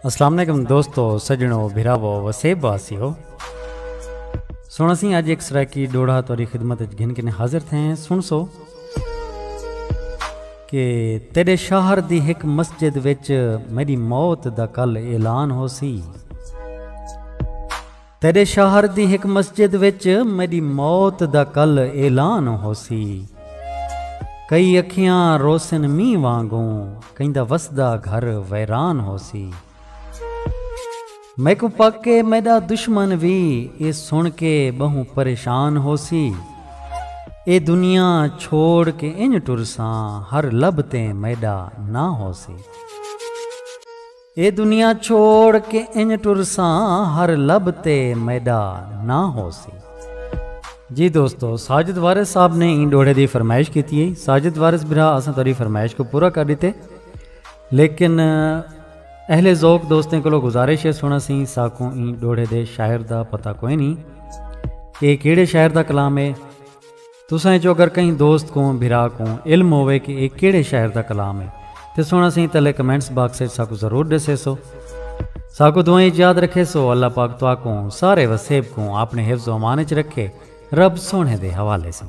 السلام علیکم دوستو سجنو بھراو وسیب باسی ہو سونا سی اج ایک سرائیکی ڈوڑا توری خدمت اچ گھن کنے حاضر تھے ہیں سن سو کہ تیرے شہر دی ایک مسجد وچ میری موت دا کل اعلان ہو سی تیݙے شہر دی ہک مسجد وچ میݙی موت دا کل اعلان ہوسی۔ کئی اکھیاں روسن مینہ وانگوں کہیں دا وسدا گھر ویران ہوسی۔ میکوں پک اے میݙا دشمن وی اے سݨ کے ٻہوں پریشان ہوسی۔ اے دنیا چھوڑ کے انج ٹرساں ہر لب تے میݙا ناں ہوسی۔ اے دنیا چھوڑ کے انج ٹرساں ہر لب تے میڈا نہ ہوسی۔ جی دوستو ساجد وارث صاحب نے این ڈوڑے دی فرمائش کیتی ہے ساجد وارث برا اساں تہاڈی فرمائش کو پورا کر دیتے لیکن اہل ذوق دوستیں کولو گزارش ہے سنا سی ساکوں این ڈوڑے دے شاعر دا پتہ کوئی نہیں کہ کیڑے شاعر دا کلام ہے تساں اچوں اگر کہیں دوست کوں، بھرا کوں، علم ہووے کہ اے کیڑھے شاعر دا کلام ہے تیں سنڑ اسیں تلے کمنٹس باکس اچ ساکوں ضرور ڈسیسو۔ ساکوں دعائیں اچ یاد رکھیسو۔ اللہ پاک تہاکوں سارے وسیب کوں آپنڑے حفظ و امان اچ رکھے۔ رب سوہنڑے دے حوالے سوں۔